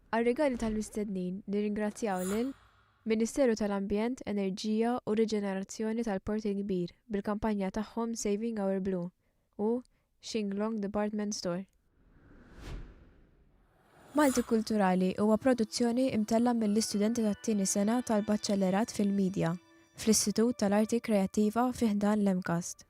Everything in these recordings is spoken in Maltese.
Għar-rigali tal-mistednin nirringrazzjaw lil Ministeru tal-Ambjent, Enerġija u Riġenerazzjoni tal-Port il-Kbir bil-kampanja tagħhom Saving Our Blue u Shinglong Department Store. Maltikulturali huwa produzzjoni mtellgħa mill-istudenti tat-tieni sena tal-Baċellerat fil-Midja fl-Istitut tal-Arti Kreattiva fi ħdan l-MCAST.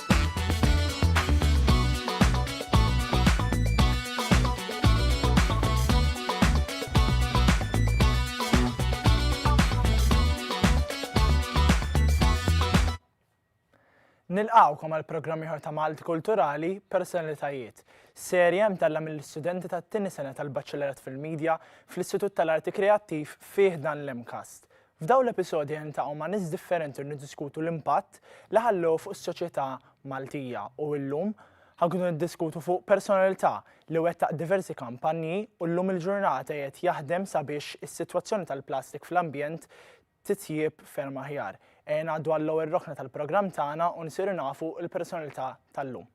Nilqawkom għal programm ieħor ta' Malti Kulturali Personalitajiet. Serja mtella mill-istudenti tat-tieni sena tal-Baċċellerat fil-Media fl-Istitut tal-Arti Kreattiv fih dan l-MCAST. F'dawn l-episodji niltaqgħu ma' nies differenti u niddiskutu l-impatt li ħallew fuq is-soċjetà Maltija u illum ħa nkunu niddiskutu fuq personalità li wettaq diversi kampanji u llum il-ġurnata qiegħed jaħdem sabiex is-sitwazzjoni tal-plastik fl-ambjent titjieb ferm aħjar. Ejja ngħaddu għall-ewwel rokna tal-programm tagħna u nsiru nafu l-personalità tal-lum.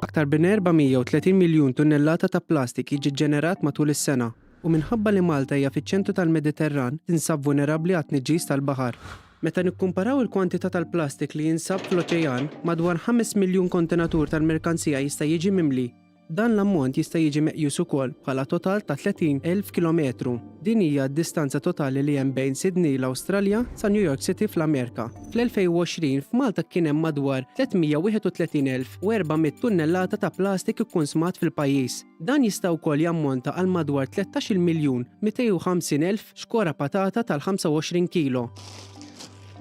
Aktar bin 430 miljun tunnellata ta' plastik jiġi ġġenerat matul is-sena, u minħabba li Malta hija fiċ-ċentru tal-Mediterran, tinsab vulnerabbli għat-tniġġis tal-baħar. Meta nikkumparaw il-kwantità tal-plastik li jinsab fl-oċejan, madwar ħames miljun kontenatur tal-merkanzija jista' jiġi mimli. Dan l-ammont jista' jiġi meqjus ukoll bħala total ta' 30,000 kilometru. Din hija d-distanza totali li hemm bejn Sydney, l-Awstralja, sa New York City, fl-Amerika. Fl-2020, f'Malta kien hemm madwar 331,400 tunnellata ta' plastik ikkunsmat fil-pajjiż. Dan jista' wkoll jammonta għal madwar 13 miljun 250 elf xkora patata tal-25 kilo.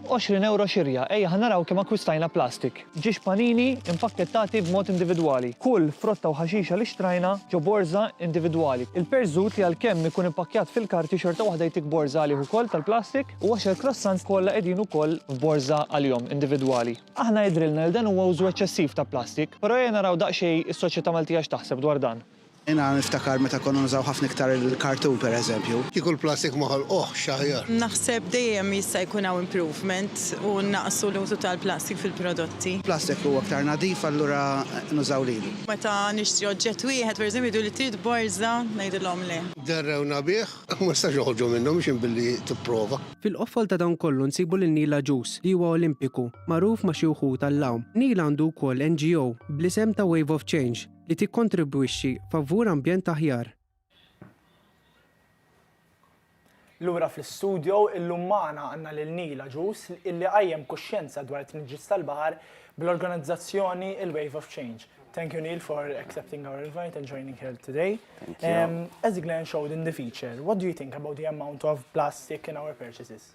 Għoxrin ewro xirja. Ejja ħa naraw kemm akkwistajna plastik. Ġiex panini mpakkettati b'mod individwali. Kull frotta u ħaxixa li xtrajna ġo borża individwali. Il-perżut li għalkemm ikun ippakkjat fil-karti xorta waħda jtik borża għalih ukoll tal-plastik u għoxer croissants kollha qegħdin ukoll f'borża għalihom individwali. Aħna jidhrilna li dan huwa użu eċċessiv ta' plastik, però ejja naraw daqsxejn is-soċjetà Maltija x'taħseb dwar dan. Jiena niftakar meta konna nużaw ħafna iktar il-kartun pereżempju. Kieku l-plastik ma ħolquhx aħjar. Naħseb dejjem jista' jkun hawn improvement u nnaqqsu l-użu tal-plastik fil-prodotti. Plastik huwa aktar nadif allura nużaw lilu. Meta nixtri oġġett wieħed pereżempju jgħiduli trid borża ngħidilhom le. Derrewna bih. Ma nistax noħorġu minnu mhux hemm billi tipprova. Fil-qofol ta' dan kollu nsibu lil Neil Agius li huwa Olimpiku, magħruf ma' xi wħud għall-għawm. Neil għandu wkoll NGO bl-isem ta' Wave of Change. li tikkontribwixxi favur ambjent aħjar. Lura fl-istudjo illum magħna għandna lil Neil Agius illi qajjem kuxjenza dwar it-tniġġis tal-baħar bl-organizzazzjoni il-Wave of Change. Thank you Neil for accepting our invite and joining here today. Thank you. Um, as Glenn showed in the feature, what do you think about the amount of plastic in our purchases?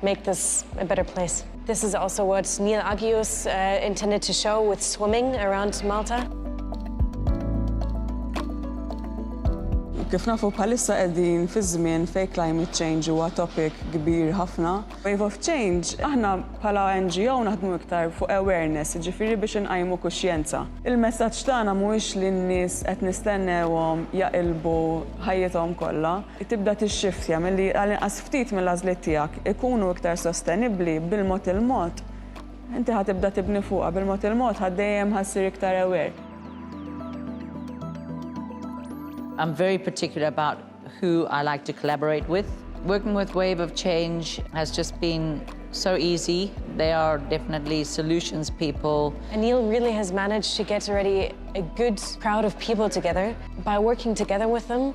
Make this a better place. This is also what Neil Agius intended to show with swimming around Malta. Kif nafu bħalissa qegħdin fi żmien fejn climate change huwa topic kbir ħafna. Wave of Change, aħna bħala NGO naħdmu iktar fuq awareness, jiġifieri biex inqajmu kuxjenza. Il-messaġġ tagħna mhuwiex li n-nies qed nistennewhom jaqilbu ħajjithom kollha, tibda tixxiftja milli għall-inqas ftit mill-għażliet tiegħek ikunu iktar sostenibbli, bil-mod il-mod inti ħa tibda tibni fuqha, bil-mod il-mod ħa dejjem ħa ssir iktar aware. I'm very particular about who I like to collaborate with. Working with Wave of Change has just been so easy. They are definitely solutions people. Anil really has managed to get already a good crowd of people together. By working together with them,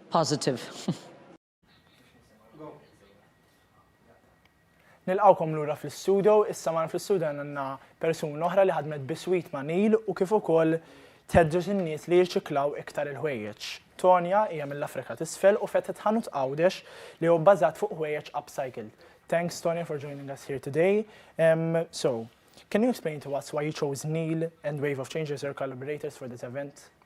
Positive. Nilqgħukom lura fl-istudio, issa magħna fl-istudio għandna persuna oħra li ħadmet biswit ma' Neil u kif ukoll tedġeġ in-nies li jirċiklaw iktar il-ħwejjeġ. Tonja hija mill-Afrika t'Isfel u fetħet ħanut Għawdex li hu bbażat fuq ħwejjeġ upcycled. Thanks Tonja for joining us here today. Um, so, can you explain to us why you chose Neil and Wave of Change as your collaborators for this event?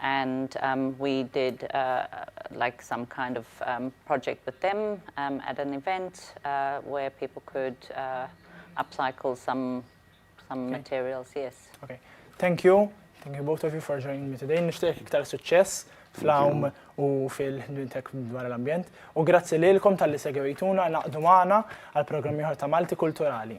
and we did like some kind of project with them at an event where people could upcycle some some materials, yes. Okay. Thank you. Thank you both of you for joining me today. Nishtiq iktar suċċess fl-għawm u fil-ħdmintek dwar l-ambjent. U grazzi lilkom tal-li segwejtuna naqdu maħna għal-programmi ħor ta' Malti Kulturali.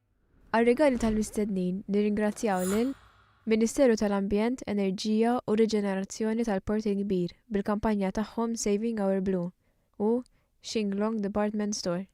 Għar-rigali tal-mistednin nirringrazzjaw lil, Ministeru tal-Ambjent, Enerġija u Riġenerazzjoni tal-Port il-Kbir bil-kampanja tagħhom Saving Our Blue u Shinglong Department Store.